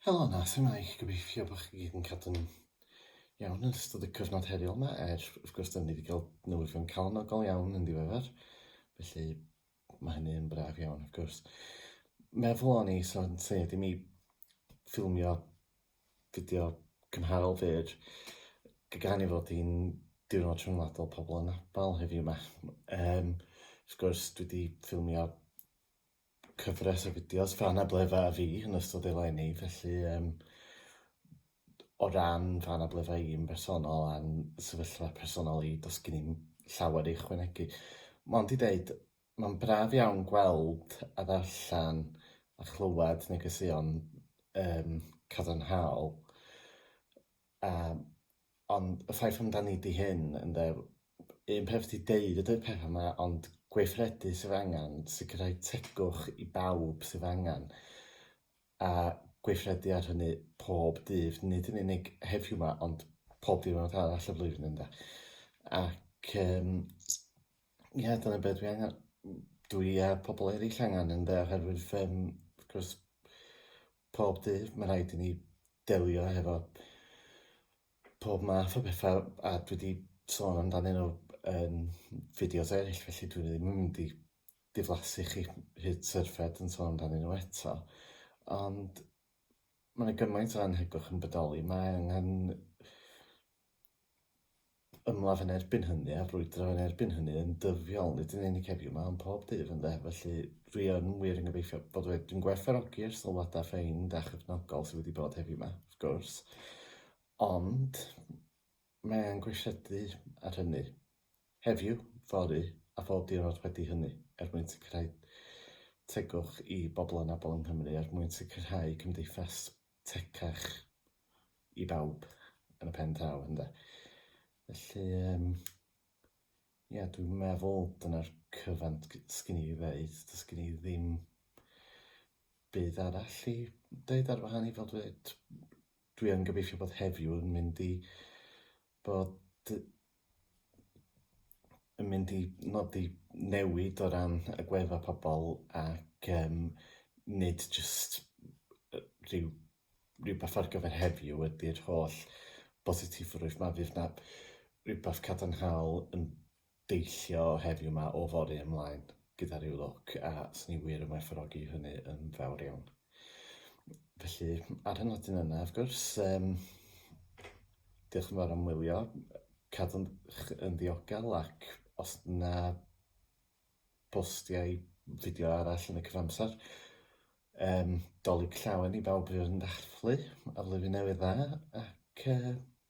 Helo 'na, su'mae? Gobeithio bo' chi gyd yn cadw'n iawn yn ystod y cyfnod heriol 'ma, er wrth gwrs 'dan ni 'di ga'l newyddion calonogol iawn yn ddiweddar, felly ma' hynny yn braf iawn wrth gwrs. Meddwl o'n i, so yn lle i mi ffilmio fideo cymharol fyr, g- gan ei fod hi'n diwrnod rhyngwladol pobol anabal heddiw 'ma, yym wrth gwrs dwi 'di ffilmio cyfres o fideos Fan a Blefa a fi yn ystod eleni, felly yym o ran Fan a Blefa i yn bersonol a'n sefyllfa personol i does gen i'm llawer i ychwanegu. Mond i deud mae'n braf iawn gweld a ddarllen a chlywed negeseuon yym cadarnhaol. Yym, ond y ffaith amdani ydi hyn, ynde, un peth ydi deud y deu'r pethau yma, ond gweithredu sydd angen, sicrhau tegwch i bawb sydd angen, a gweithredu ar hynny pob dydd, nid yn unig heddiw yma, ond pob dydd diwrnod arall y flwyddyn ynde. Ac um, ie, yeah, dyna beth dwi angen, dwi a pobl eraill angen ynde, oherwydd um, wrth gwrs, Pob dydd mae rhaid i ni delio hefo pob math o bethau a dwi wedi sôn amdanyn nhw yn fideos eraill felly dwi ddim yn mynd i diflasu chi hyd syrffed yn sôn amdanyn nhw eto ond mae 'na gymaint o annhegwch yn bodoli mae angen ymladd yn erbyn hynny a brwydro yn erbyn hynny yn dyddiol, nid yn unig heddiw 'ma ond pob dydd ynde, felly dwi yn wir yn gobeithio bod wedi... dwi'n gwerthfawrogi'r sylwadau ffeind a chefnogol sydd wedi bod heddiw 'ma, wrth gwrs, ond mae e'n gweithredu ar hynny heddiw, fory a phob diwrnod wedi hynny er mwyn sicrhau tegwch i bobl anabl yng Nghymru, er mwyn sicrhau cymdeithas tecach i bawb yn y pen draw, ynde? Felly, um, ia, dwi'n meddwl dyna'r cyfan sgyn i ddeud, dys gyn i ddim byd arall i ddeud ar wahan i fod dweud. Dwi yn gobeithio bod heddiw yn mynd i bod yn mynd i nodi newid o ran agwedda' pobl ac yym nid jyst yy rhyw rywbeth ar gyfer heddiw ydy'r holl bositifrwydd 'ma, fydd 'na rywbeth cadarnhaol yn deillio heddiw 'ma o fory ymlaen gyda rhyw lwc a 'swn i wir yn werthfawrogi hynny yn fawr iawn. Felly, ar y nodyn yna, wrth gwrs, um, diolch yn fawr am wylio, cadw'n yn ddiogel ac os na postiau fideo arall yn y cyfamser, um, dolyg llawen i bawb fydd yn dathlu a flwyddyn newydd dda ac uh,